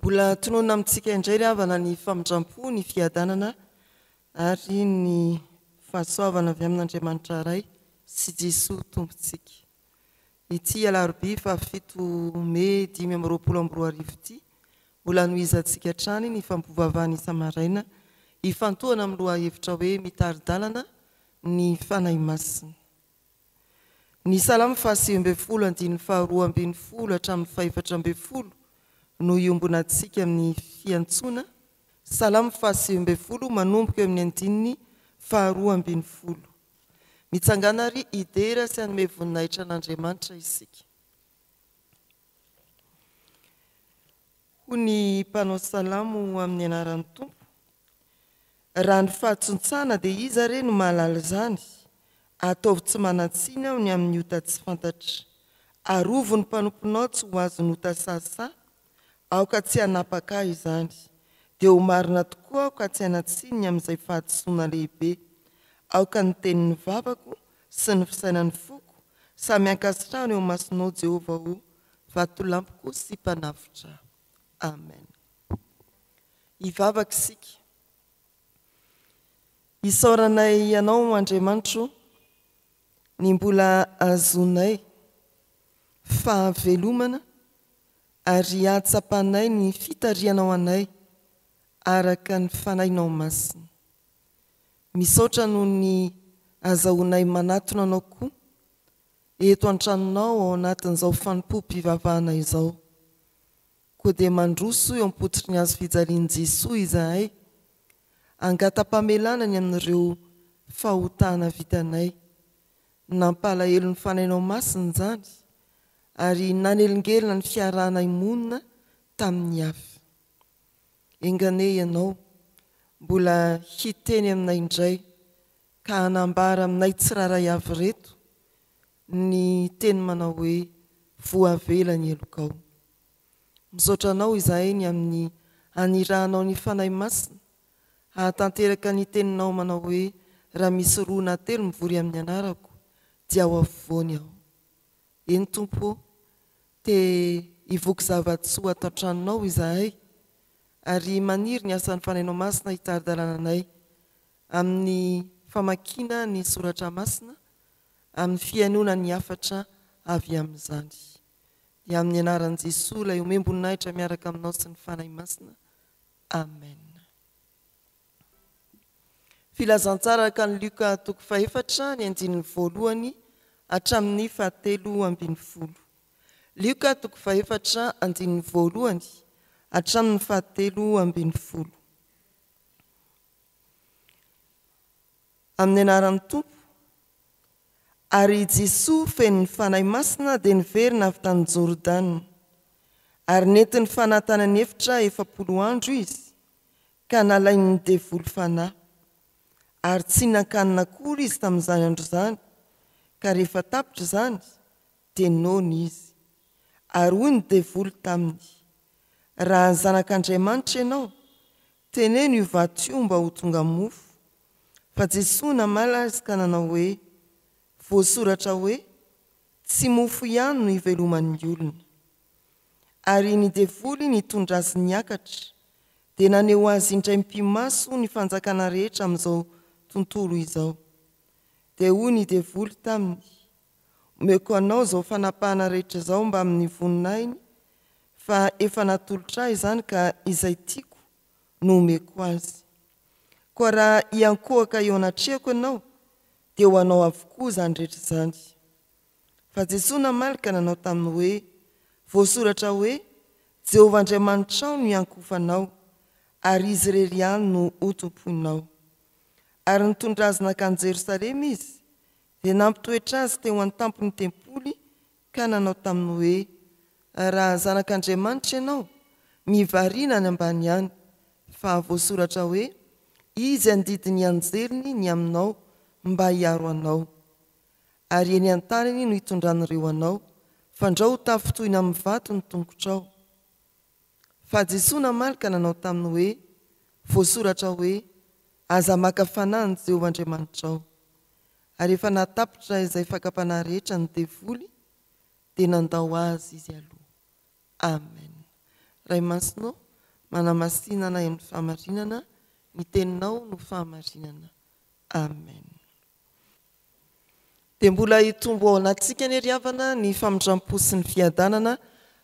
Mbola tononina amintsika indray ry havana ny famindrampo, ny fiadanana ary ny fahasoavana avy amin'Andriamanitra Ray sy Jesoa Tompontsika. Ity alarobia fahafito mey dimy amby roapolo amby roa arivo ity, ho lanohizantsika hatrany ny fampivavahana isa-maraina ifantohana amin'ny lohahevitra hoe Mitari-dalana ny Fanahy Masina. Ny Salamo fahasivy ambin'ny folo andininy faharoa ambin'ny folo hatramin'ny fahefatra ambin'ny folo no iombonantsika amin'ny fiantsoana, Salamo fahasivy ambin'ny folo manomboka eo amin'ny andininy faharoa ambin'ny folo. Mitsangàna àry hidera sy hanome voninahitra an'Andriamanitra isika. Hoy ny mpanao salamo amin'ny anaran'ny Tompo, Raha ny fahatsontsaana, dia iza re no mahalala izany? Ataovy tsy manan-tsiny aho ny amin'ny ota tsy fantatra. Arovy ny mpanomponao tsy ho azon'ny ota sahasaha, Aoka tsy hanapaka ahy izany. Dia ho marina tokoa aho ka tsy hanatsiny ny amin'izay fahadisoana lehibe. Aoka ny tenin'ny vavako sy ny fisainan'ny foko samy hankasitrahana eo imasonao Jehovah ô, vatolampiko sy mpanavotra ahy. Amen. Hivavaka isika. Isaoranay Ianao, Andriamanitro, ny mbola ahazoanay fahavelomana ary hahatsapanay ny fitarihanao anay araka ny Fanahinao Masina. Misaotra noho ny azahoanay manatona Anao koa eto an-tranonao ao anatin'izao fanompoam-pivavahana izao. Koa dia mandroso eo am-pototry ny Hazo fijalian'i Jesoa izahay, hangata-pamelana ny amin'ireo fahotana vitanay. Nampalahelo ny fanainao masina izany ary nanelingelina ny fiarahanay monina tamin'ny hafa. Enganie ianao mbola hiteny aminay indray ka hanambara aminay tsirairay avy ireto ny teny manao hoe voavela ny helokao. Misaotra anao izahay ny amin'ny hanirahanao ny Fanahy Masina Hahatanteraka ny teninao manao hoe, Raha misy roa na telo mivory amin'ny anarako, dia ao afovoany aho. Eny, Tompo ô, te hivoky zava-tsoa ato an-tranonao izahay, ary maniry ny asan'ny Fanahinao Masina hitari-dalana anay amin'ny famakiana ny soratra masina, amin'ny fihainoana ny hafatra avy amin'izany. Dia amin'ny anaran'i Jesoa, ilay omem-boninahitra miaraka aminao sy ny Fanahy Masina. Amen. Filazantsara araka ny Luka toko fahefatra ny andininy voalohany hatramin'ny fahatelo ambin'ny folo. Luka toko fahefatra andininy voalohany hatramin'ny fahatelo ambin'ny folo. Amin'ny anaran'ny Tompo. Ary i Jesoa feno ny Fanahy Masina dia niverina avy tany Jordana. Ary nentin'ny Fanahy tany an'efitra efapolo andro izy, ka nalain'ny devoly Fanahy. Ary tsy hinan-kanina akory izy tamin'izany andro izany, ka rehefa tapitra izany, dia noana izy. Ary hoy ny devoly taminy, Raha ny Zanak'Andriamanitra ianao, Teneno io vato io mba ho tonga mofo. Fa Jesoa namaly azy ka nanao hoe, Voasoratra hoe, Tsy mofo ihany no hiveloman'ny olona. Ary ny devoly nitondra azy niakatra, dia naneho azy indray mpimaso ny fanjakana rehetra amin'izao tontolo izao. Dia hoy ny devoly taminy, Omeko anao izao fanapahana rehetra izao mbamin'ny voninahiny, fa efa natolotra ahy izany ka izay tiako no omeko azy. Koa raha hiankohoka eo anatrehako ianao, dia ho anao avokoa izany rehetra izany. Fa Jesoa namaly ka nanao taminy hoe, Voasoratra hoe, Jehovah Andriamanitrao no hiankohofanao, ary izy irery ihany no hotompoinao. Ary nitondra azy nankany Jerosalema izy, Dia nampitoetra azy teo an-tampon'ny tempoly ka nanao taminy hoe, Raha Zanak'Andriamanitra ianao, mivarina any ambany any, fa voasoratra hoe, Izy handidy ny anjeliny ny aminao mba hiaro anao. Ary eny an-taniny no hitondran'ireo anao, fandrao ho tafitohina amin'ny vato ny tongotrao. Fa Jesoa namaly ka nanao taminy hoe, Voasoratra hoe, Aza maka fanahy ny Jehovah Andriamanitrao. Ary efa nahatapitra izay fakam-panahy rehetra ny devoly, dia nandao azy izy aloha. Amen. Ray Masina ô, manamasina anay amin'ny fahamarinana, ny Teninao no fahamarinana. Amen. dia mbola hitombo ao anatintsika anie ry havana ny famindram-po sy ny fiadanana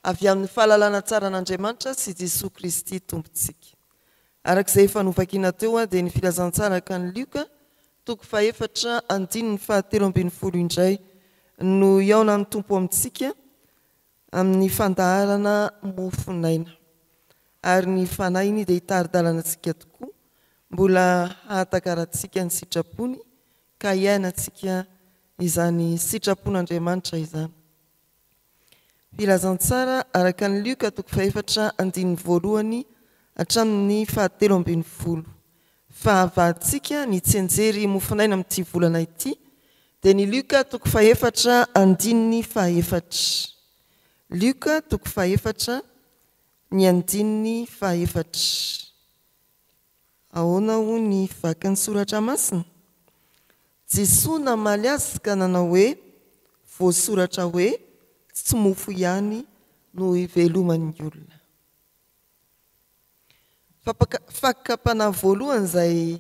avy amin'ny fahalalana tsara an'Andriamanitra sy Jesoa Kristy Tompontsika. Araka izay efa novakina teo dia ny Filazantsara haka an'i Lioka, toko fahefatra, andininy fahatelo ambin'ny folo indray no hihaonan'ny Tompo amintsika, amin'ny fandaharana Mofonaina. Ary ny Fanahin'i dia hitari-dalana antsika tokoa mbola hahatakarantsika ny sitrapony ka hiainantsika izany sitrapon'Andriamanitra izany. Filazantsara araka an'i Lioka toko fahefatra andininy voalohany hatramin'ny fahatelo ambin'ny folo. Fahavalontsika ny tsy enjery mofonaina amin'ity volana ity dia ny Lioka toko fahefatra andininy fahefatra. Lioka toko fahefatra ny andininy fahefatra. Ahoana hoy ny vakin'ny soratra masina? Jesoa namaly azy ka nanao hoe, voasoratra hoe, tsy mofo ihany no hiveloman'ny olona. Fakam-panahy voalohany izay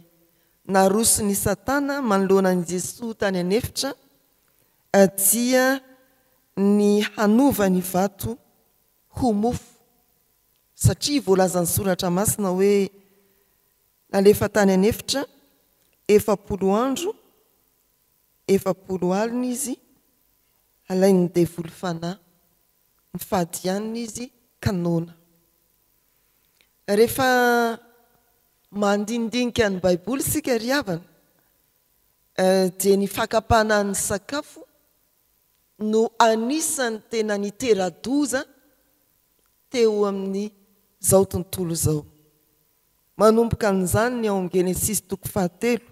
narosony i Satana manoloana an'i Jesoa tany an'efitra dia ny hanova ny vato ho mofo. Satria voalazan'ny Soratra Masina hoe nalefa tany an'efitra efapolo andro, efapolo alina izy, alain'ny devoly fanahy. mifady ihany izy ka noana. Rehefa mandinidinika ny Baiboly isika ry havana, dia ny fakam-panahin'ny sakafo no anisan'ny tena nitera-doza teo amin'izao tontolo izao. Manomboka amin'izany ny ao Genesisy toko fahatelo,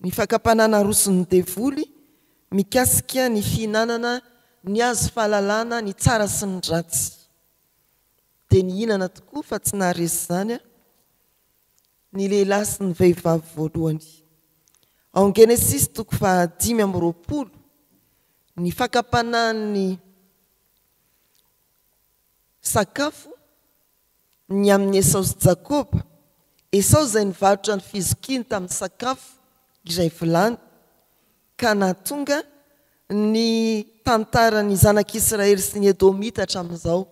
ny fakam-panahy naroson'ny devoly mikasika ny fihinanana ny hazo fahalalana ny tsara sy ny ratsy. Dia nihinana tokoa fa tsy naharesy izany ny lehilahy sy ny vehivavy voalohany. Ao Genesisy toko fahadimy amby roapolo, ny fakam-panahin'ny sakafo ny amin' i Esao sy Jakoba, Esao izay nivarotra ny fizokiny tamin'ny sakafo iray vilany, ka nahatonga ny tantaran'ny Zanak' Israely sy ny Edomita hatramin'izao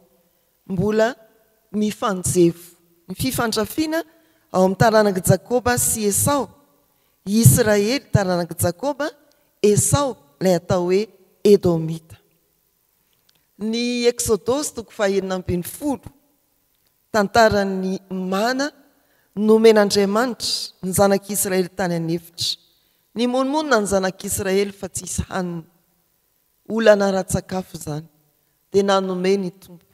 mbola mifanjevo. Ny fifandrafiana ao amin'ny taranak'i Jakoba sy Esao, i Israely, taranak'i Jakoba, Esao, ilay atao hoe Edomita. Ny Eksodosy toko fahenina ambin'ny folo, tantaran'ny mana nomen'Andriamanitra ny zanak'Israely tany an'efitra. Nimonomonona ny zanak'Israely fa tsisy hanina. Olana ara-tsakafo izany, dia nanome ny Tompo.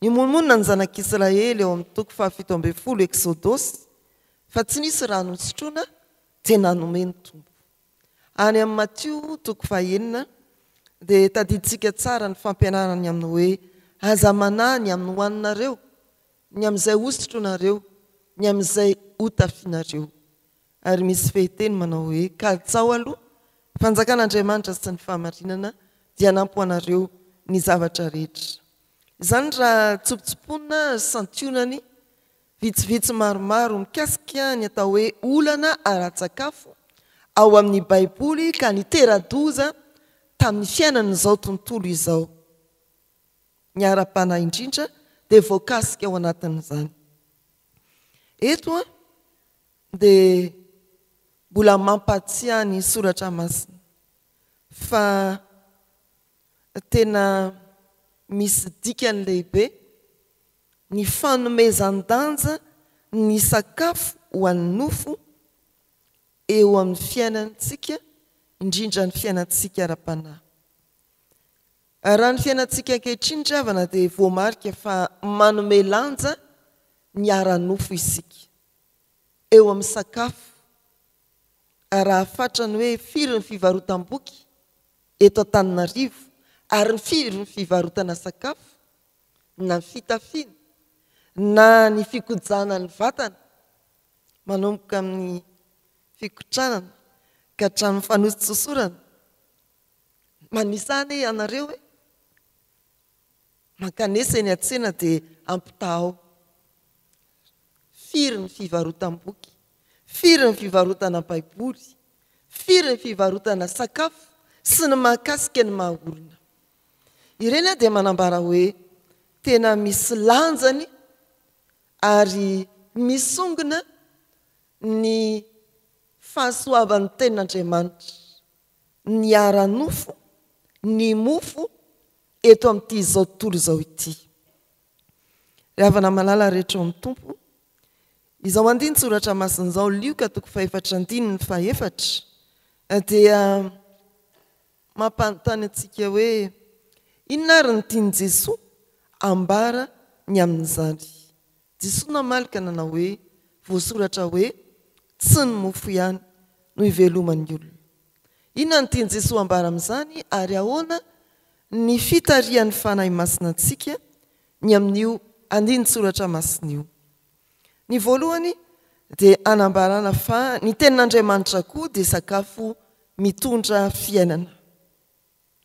Nimonomonona ny zanak'Israely eo amin'ny toko fahafito ambin'ny folo Eksodosy fa tsy nisy rano hosotroina, dia nanome ny Tompo. Any amin'ny Matio toko fahenina dia tadidintsika tsara ny fampianarany amin'ny hoe, Aza manahy ny amin'ny hohaninareo, ny amin'izay hosotronareo, ny amin'izay hotafianareo. Ary misy fehiteny manao hoe, Kalitsaho aloha fanjakan'Andriamanitra sy ny fahamarinana, dia hanampy ho anareo ny zavatra rehetra. Izany raha tsopotsopoina, santionany, Vitsivitsy maromaro mikasika ny atao hoe olana ara-tsakafo ao amin'ny Baiboly ka nitera-doza tamin'ny fiainan'izao tontolo izao. Ny ara-panahy indrindra dia voakasika ao anatin'izany. Eto dia mbola mampahatsiahy ny soratra masina fa tena misy dikany lehibe ny fanomezan-danja ny sakafo ho an'ny nofo eo amin'ny fiainantsika, indrindra ny fiainantsika ara-panahy. Raha ny fiainantsika ankehitriny ry havana dia voamarika fa manome lanja ny ara-nofo isika, eo amin'ny sakafo, raha fatra ny hoe firy ny fivarotam-boky eto Antananarivo ary firy ny fivarotana sakafo, na ny fitafiana, na ny fikojana ny vatana, manomboka amin'ny fikotranana ka hatramin'ny fanosontsosorana. Manisa anie ianareo e! Mankanesa eny an-tsena dia ampitahao. Firy ny fivarotam-boky? Firy ny fivarotana baiboly? Firy ny fivarotana sakafo sy ny mahakasika ny maha olona? Ireny dia manambara hoe tena misy lanjany ary misongona ny fahasoavan'ny Tenin'Andriamanitra, ny ara-nofo, ny mofo eto amin'ity izao tontolo izao ity. Ry havana malala rehetra ao amin'ny Tompo, izao andinin-tsoratra masina izao, Lioka toko fahefatra andininy fahefatra, dia Mampanontany antsika hoe, Inona ary no tian'i Jesoa ambara ny amin'izany? Jesoa namaly ka nanao hoe, Voasoratra hoe, Tsy ny mofo ihany no iveloman'ny olona. Inona no tian'i Jesoa ambara amin'izany ary ahoana ny fitarihan'ny Fanahy Masina antsika ny amin'io andinin-tsoratra masina io? Ny voalohany dia anambarana fa ny tenin'Andriamanitra koa dia sakafo mitondra fiainana.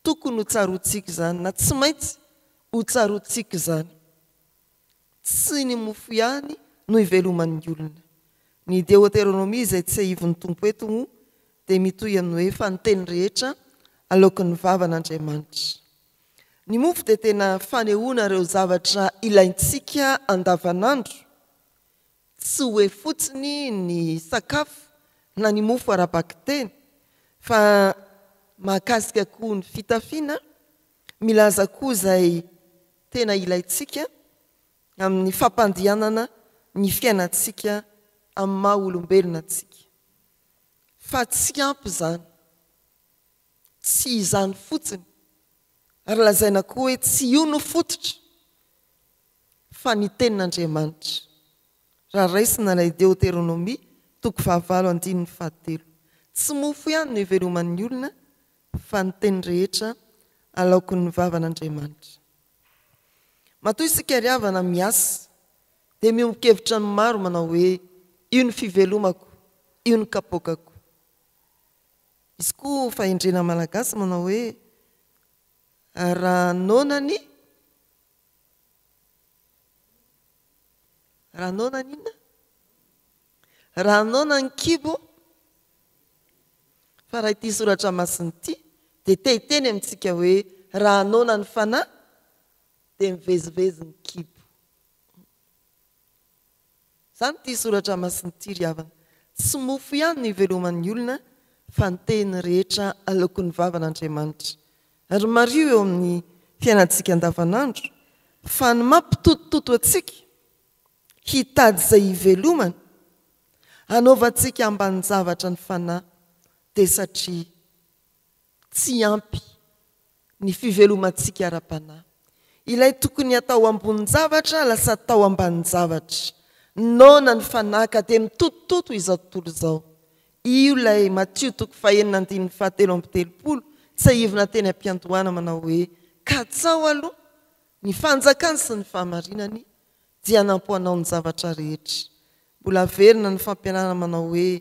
Tokony ho tsaroantsika izany na tsy maintsy ho tsaroantsika izany. Tsy ny mofo ihany no hiveloman'ny olona. Ny Deoteronomia izay tsiahivin'ny Tompo eto moa dia mitohy amin'ny hoe fa ny teny rehetra aloaky ny vavan'Andriamanitra. Ny mofo dia tena fanehoana ireo zavatra ilaintsika andavanandro, tsy hoe fotsiny ny sakafo na ny mofo ara-bakiteny fa mahakasika koa ny fitafiana, milaza koa izay tena ilaintsika amin'ny fampandehanana ny fiainantsika amin'ny maha olombelona antsika. Fa tsy ampy izany. Tsy izany fotsiny, ary lazaina koa hoe tsy io no fototra, fa ny Tenin'Andriamanitra, raha raisina ilay Deoteronomia toko fahavalo andininy fahatelo. Tsy mofo ihany no iveloman'ny olona, fa ny teny rehetra alaokin'ny vavan'Andriamanitra. Matoa isika ry havana miasa, dia miombon-kevitra ny maro manao hoe, Io ny fivelomako, io ny kapoakako. Misy koa fahendrena malagasy manao hoe raha noana ny raha noana ny inona? raha noana ny kibo fa raha ity soratra masina ity dia te hiteny amintsika hoe raha noana ny fanahy dia mivezivezy ny kibo Izany ity soratra masina ity ry havana. Tsy mofo ihany no iveloman'ny olona fa ny tehiny rehetra aloakon'ny vavan'Andriamanitra. Ary mariho eo amin'ny fiainantsika andavanandro fa ny mampitotototo antsika hitady izay hivelomana, hanaovantsika ambanin-javatra ny fanahy dia satria. Tsy ampy ny fivelomantsika ara-panahy. Ilay tokony atao ambonin-javatra lasa atao ambanin-javatra. Noana ny fanahy ka dia mitotototo izao tontolo izao. Io ilay Matio toko fahenina andininy fahatelo amby telopolo tsiahivina teny am-piandohana manao hoe, Katsaho aloha ny fanjakany sy ny fahamarinany dia hanampo anao ny zavatra rehetra. Mbola averina ny fampianarana manao hoe,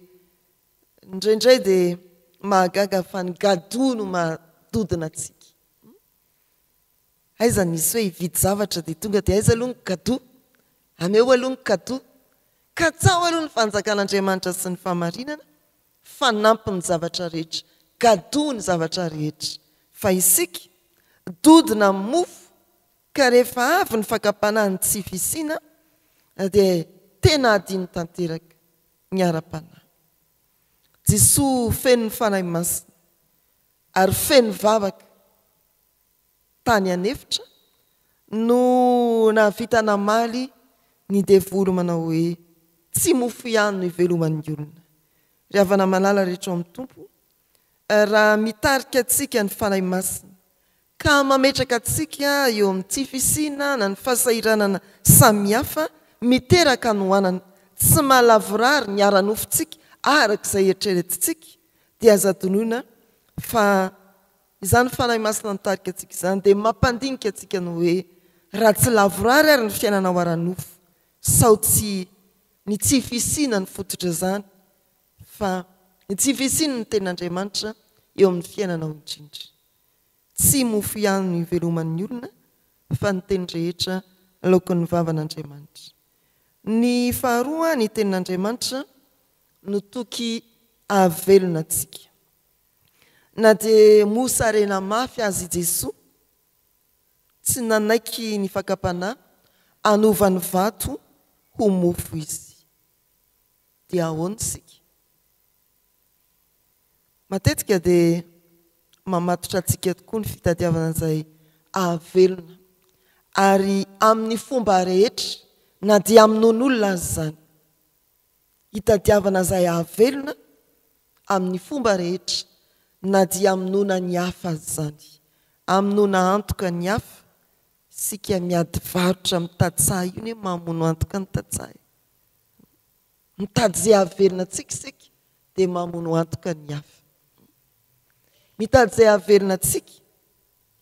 Indraindray dia mahagaga fa ny gadoo no maha-dodona antsika. Aiza nisy hoe hividy zavatra dia tonga dia aiza aloha ny gadoo? Ameo aloha ny gadoo. Katsaho aloha ny fanjakan'Andriamanitra sy ny fahamarinana, fanampiny ny zavatra rehetra. Gadoo ny zavatra rehetra. Fa isika, dodona amin'ny mofo, ka rehefa avy ny fakam-panahy ny tsy fisiana, dia tena adino tanteraka. ny ara-panahy. Jesoa feno ny Fanahy Masina ary feno vavaka tany an'efitra no nahavita namaly ny devoly manao hoe, tsy mofo ihany no iveloman'ny olona. Ry havana malala rehetra ao amin'ny Tompo, raha mitarika antsika ny Fanahy Masina ka mametraka antsika eo amin'ny tsy fisiana na ny fahasahiranana samihafa miteraka hanoanana, tsy mahalavorary ny ara-nofontsika araka izay eritreretintsika, dia aza adinoina fa izany Fanahy Masina nitarika antsika izany dia mampandinika antsika ny hoe, raha tsy lavorary ary ny fiainanao ara-nofo, sao tsy ny tsy fisiana no fototra izany, fa ny tsy fisian'ny Tenin'Andriamanitra eo amin'ny fiainanao indrindra. Tsy mofo ihany no iveloman'ny olona fa ny teny rehetra laokin'ny vavan'Andriamanitra. Ny faharoa, ny tenin'Andriamanitra no toky hahavelona antsika. Na dia mosarena mafy aza i Jesoa, tsy nanaiky ny fakam-panahy hanova ny vato ho mofo Izy. Dia ahoana isika? Matetika dia mamatotra antsika tokoa ny fitadiavana izay hahavelona, ary amin'ny fomba rehetra, na dia hamonoan'olona aza izany. Hitadiavana izay hahavelona amin'ny fomba rehetra, na dia hamonoana ny hafa aza izany. Hamonoana antoka ny hafa, isika miady varotra amin'ny tantsaha io anie mamono antoka ny tantsaha e! Mitady izay hahavelona antsika isika dia mamono antoka ny hafa. Mitady izay hahavelona antsika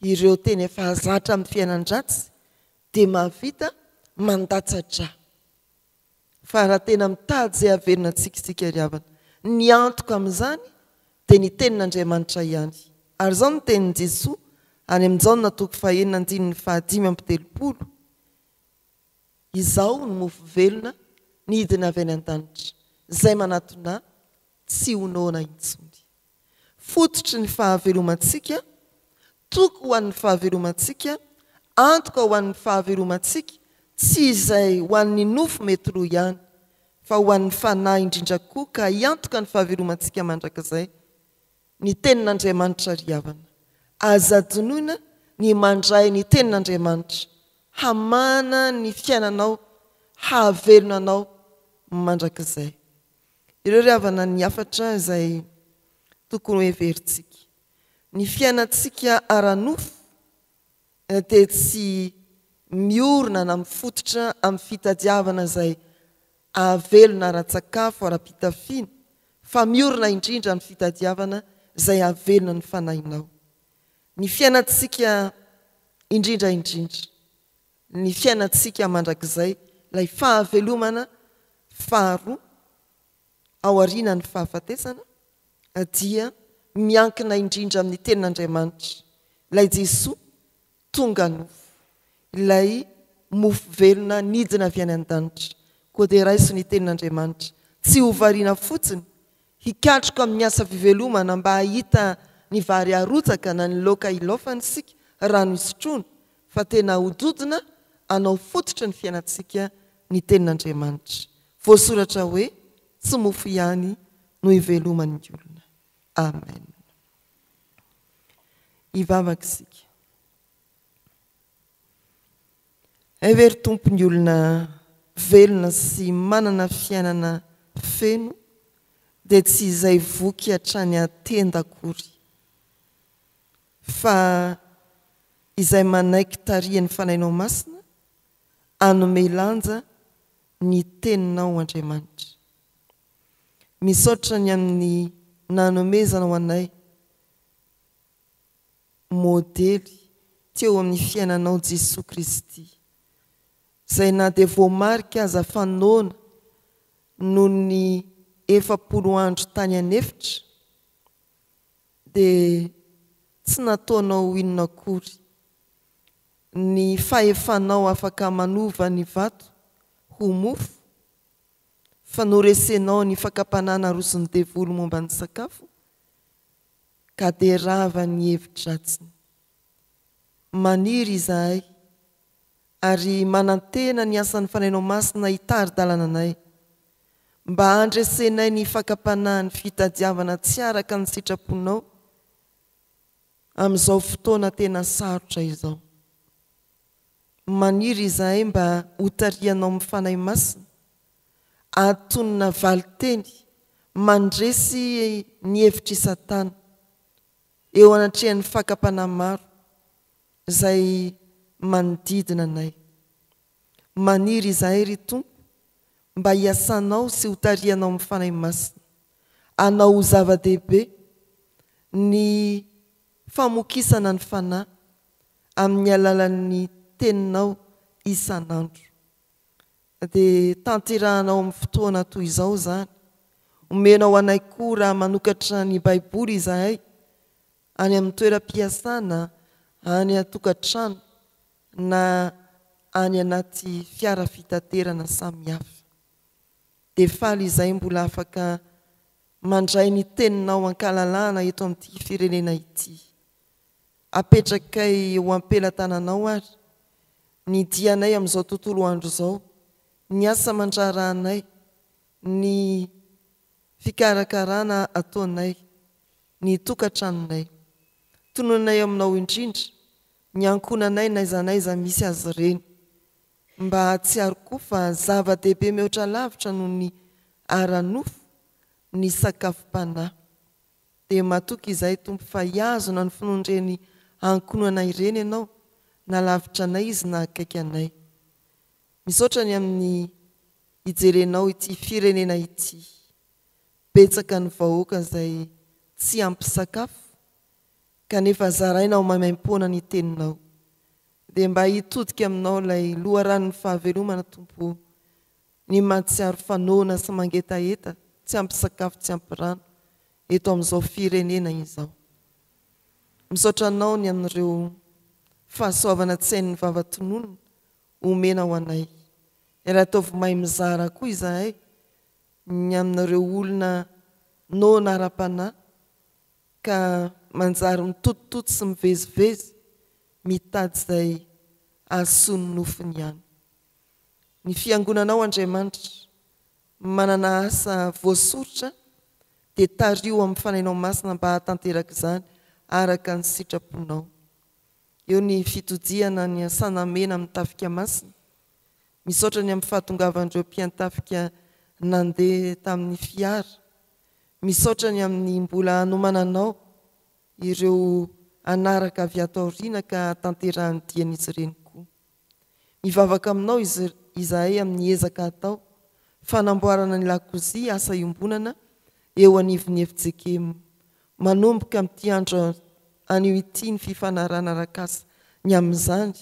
ireo tena efa zatra amin'ny fiainan-dratsy dia mahavita mandatsa-dra. Fa raha tena mitady izay hahavelona antsika isika ry havana, ny antoka amin'izany dia ny tenin'Andriamanitra ihany. Ary izao no tenin'i Jesoa any amin'ny Jaona toko fahenina andininy fahadimy amby telopolo, Izao ny mofo velona nidina avy any an-danitra, izay manatona tsy ho noana intsony. Fototry ny fahavelomantsika, toky ho an'ny fahavelomantsika, antoka ho an'ny fahavelomantsika, tsy izay ho an'ny nofo mety lo ihany, fa ho an'ny fanahy indrindra koa ka hiantoka ny fahavelomantsika mandrakizay. Ny Tenin'Andriamanitra ry havana. Aza adinoina ny mandray ny Tenin'Andriamanitra hamana ny fiainanao, hahavelona anao mandrakizay. Ireo ry havana ny hafatra izay tokony ho heverintsika. Ny fiainantsika ara-nofo. dia tsy miorina na mifototra amin'ny fitadiavana izay ahavelona ara-tsakafo, ara-pitafiana, fa miorina indrindra amin'ny fitadiavana izay ahavelona ny fanahinao. Ny fiainantsika indrindra indrindra, ny fiainantsika mandrakizay, ilay fahavelomana faharoa, aorianan'ny fahafatesana dia miankina indrindra amin'ny Tenin'Andriamanitra, ilay Jesoa tonga nofo, ilay mofo velona nidina avy any an-danitra. Koa dia raiso ny Tenin'Andriamanitra, tsy ho variana fotsiny, hikatroka amin'ny asa fivelomana mba hahita ny vary arotsaka na ny laoka ilaofana isika, rano isotroana, fa tena hododona hanao fototry ny fiainantsika ny Tenin'Andriamanitra. Voasoratra hoe tsy mofo ihany no iveloman'ny olona. Amen. Hivavaka isika. Hevery Tompo ny olona velona sy manana fiainana feno dia tsy izay voky hatrany an-tenda akory fa izay manaiky tarihan'ny Fanahinao Masina hanome lanja ny Teninao Andriamanitra. Misaotra ny amin'ny nanomezanao anay modely teo amin'ny fiainanao Jesoa Kristy, izay na dia voamarika aza fa noana noho ny efapolo andro tany an'efitra, dia tsy nataonao inona akory ny fahefanao afaka manova ny vato ho mofo, fa noresenao ny fakam-panahy naroson'ny devoly momba ny sakafo, ka dia rava ny hevi-dratsiny. Maniry izahay, ary manantena ny asan'ny Fanahinao Masina hitari-dalana anay, mba handresenay ny fakam-panahin'ny fitadiavana tsy araka ny sitraponao, amin'izao fotoana tena sarotra izao. Maniry izahay mba hotarihanao amin'ny Fanahy Masina hahatonina valin-teny mandresy ny hevitr'i Satana eo anatrehan'ny fakam-panahy maro izay manodidina anay. Maniry izahay, ry Tompo, mba hiasanao sy hotarihanao amin'ny Fanahy Masina, hanao ho zava-dehibe ny famokisana ny Fanahy amin'ny alalan'ny Teninao isan'andro. Dia tanterahana ao amin'ny fotoana toy izao izany. Omenao anay koa raha manokatra ny Baiboly izahay, any amin'ny toeram-piasana, any an-tokantrano, na any anaty fiara fitaterana samihafa. Dia faly izay mbola afaka mandray ny teninao an-kalalahana eto amin'ity firenena ity. Apetrakay eo am-pelatananao ary ny dianay amin'izao tontolo andro izao, ny asa aman-draharahanay, ny fikarakarana ataonay ny tokantranonay. Tononay aminao indrindra ny ankohonanay n'aiza n'aiza misy azy ireny. Mba hahatsiaro koa fa zava-dehibe mihoatra lavitra noho ny ara-nofo ny sakafom-panahy. Dia matoky izahay Tompo fa hihazona ny finoan'ireny ankohonanay ireny Ianao na lavitra anay izy na akaiky anay. Misaotra ny amin'ny hijerenao ity firenena ity. Betsaka ny vahoaka izay tsy ampy sakafo Kanefa zaraina ao maimaimpoana ny teninao dia mba hitodika aminao ilay loharanon'ny fahavelomana Tompo o, ny mahatsiaro fa noana sy mangetaheta tsy ampy sakafo tsy ampy rano eto amin'izao firenena izao. Misaotra Anao ny amin'ireo fahasoavana tsy hain'ny vava tononina omena ho anay. Ary ataovy mahay mizara koa izahay ny amin'ireo olona noana ara-panahy, ka manjary mitotototo sy mivezivezy mitady izay ahasoany nofiny ihany. Ny fiangonanao Andriamanitra manana asa voasoritra dia tariho amin'ny fanahinao masina mba hahatanteraka izany araka ny sitraponao. Eo ny fitodihana ny asanamena amin'ny tafika masina. Misaotra ny amin'ny fahatongavan'ireo mpiantafika nandeha tamin'ny fiara Misaotra ny amin'ny mbola hanomana anao ireo hanaraka avy ato aoriana ka hatanterahan'ny dian'izy ireny koa. Mivavaka aminao izahay amin'ny ezaka atao fanamboarana ny lakozia asa iombonana eo anivon'ny FJKM. Manomboka amin'ity andro anio ity ny fifanarahana arak'asa ny amin'izany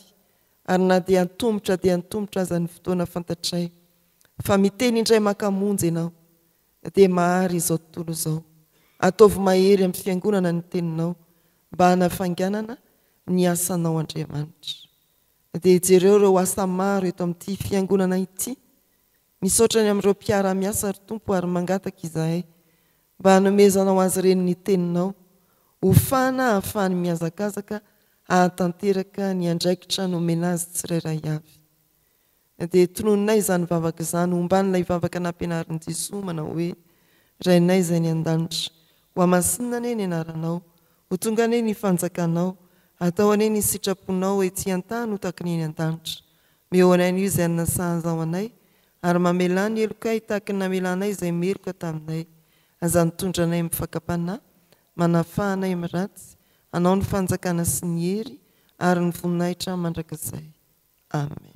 ary na dia antomotra dia antomotra aza ny fotoana fantatray fa miteny indray maka monja ianao Dia mahary izao tontolo izao. Ataovy mahery amin'ny Fiangonana ny Teninao mba hanafainganana ny asanao Andriamanitra. Dia jereo ireo asa maro eto amin'ity Fiangonana ity. Misaotra ny amin'ireo mpiara-miasa ry Tompo ary mangataka izahay mba hanomezanao azy ireny ny Teninao ho fana hahafahany mihazakazaka hahatanteraka ny andraikitra nomena azy tsirairay avy. Dia tononinay izany vavaka izany ho mban'ilay vavaka nampianarin'i Jesoa manao hoe, Rainay izay any an-danitra, hohamasinina anie ny anaranao, ho tonga anie ny fanjakanao, atao anie ny sitraponao ety an-tany ho tahaky ny eny an-danitra. Meo anay anio izay anasahazao anay, ary mamelà ny helokay tahaky ny namelanay izay meloka taminay. Aza mitondra anay amin'ny fakam-panahy, manafaha anay amin'ny ratsy, anao ny fanjakana sy ny hery ary ny voninahitra mandrakizay. Amen.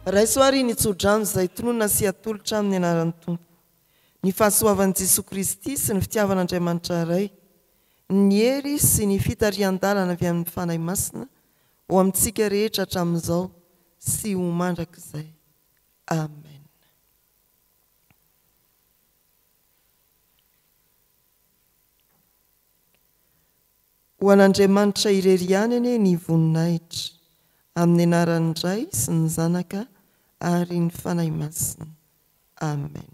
Raiso ary ny tsodrano izay tononina sy atolotra amin'ny anaran'ny Tompo. Ny fahasoavan'i Jesoa Kristy sy ny fitiavan'Andriamanitra Ray, ny hery sy ny fitarihan-dalana avy amin'ny Fanahy Masina ho amintsika rehetra hatramin'izao sy ho mandrakizay. Amen. Ho an'Andriamanitra irery ihany anie ny voninahitra, amin'ny anaran'ny Ray sy ny Zanaka ary ny Fanahy Masina. Amen.